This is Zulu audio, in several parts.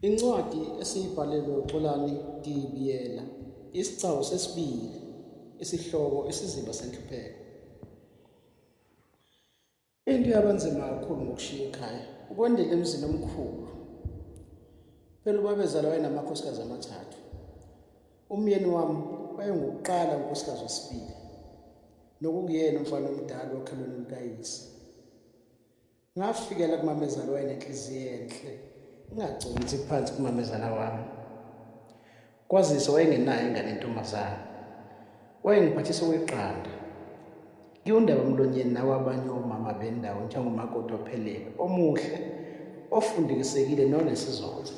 Incwadi esiyibhalelwe uXolani Dibiyela, isigcawu sesibili, isihloko isiziba senhlupheko. Into yabanzima kakhulu ngokushiya ikhaya ukwendela emzini omkhulu. Phela ubabezala wayenamakhosikazi amathathu. Umyeni wami wayengukuqala unkosikazi wesibili nokungiyena umfana omdala okhalweni lukayise ngafikela kumamezala wayenenhliziyo enhle ingagconsi phansi kumamezala wami kwazise wayengenayo ingane intombazana wayengiphathisa okweqanda ngiwundaba mlonyeni nawo abanye omama bendawo njengomakoti ophelele omuhle ofundikisekile nonesizotha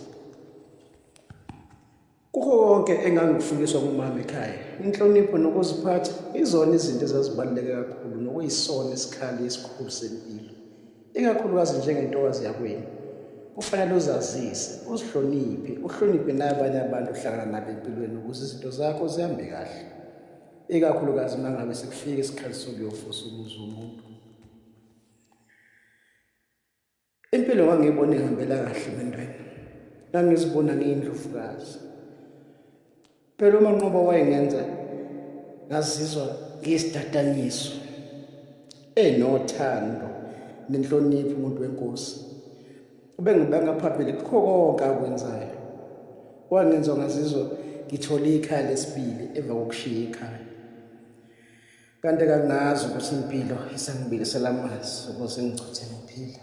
Kukho konke engangikufundiswa ngumama ekhaya, inhlonipho nokuziphatha izona izinto ezazibaluleke kakhulu nokuyisona isikhali esikhulu sempilo, ikakhulukazi njengentokazi yakwenu. Kufanele uzazise, uzihloniphe, uhloniphe nabanye abantu ohlangana nabo empilweni ukuze izinto zakho zihambe kahle, ikakhulukazi uma ngabe sekufika isikhathi sokuyofusa umuzi womuntu. Impilo ngangiyibona ihambela kahle bentwana. Ngangizibona ngiyindlovukazi. Phela uManqoba wayengenza ngazizwa ngiyisidadanyiso. Enothando nenhlonipho umuntu wenkosi. Ubengibanga phambili kukho konke akwenzayo. Wangenza ngazizwa ngithole ikhaya lesibili emva kokushiya ikhaya. Kanti kangazi ukuthi impilo isangibilisela amanzi ukuze ngigcothe ngiphila.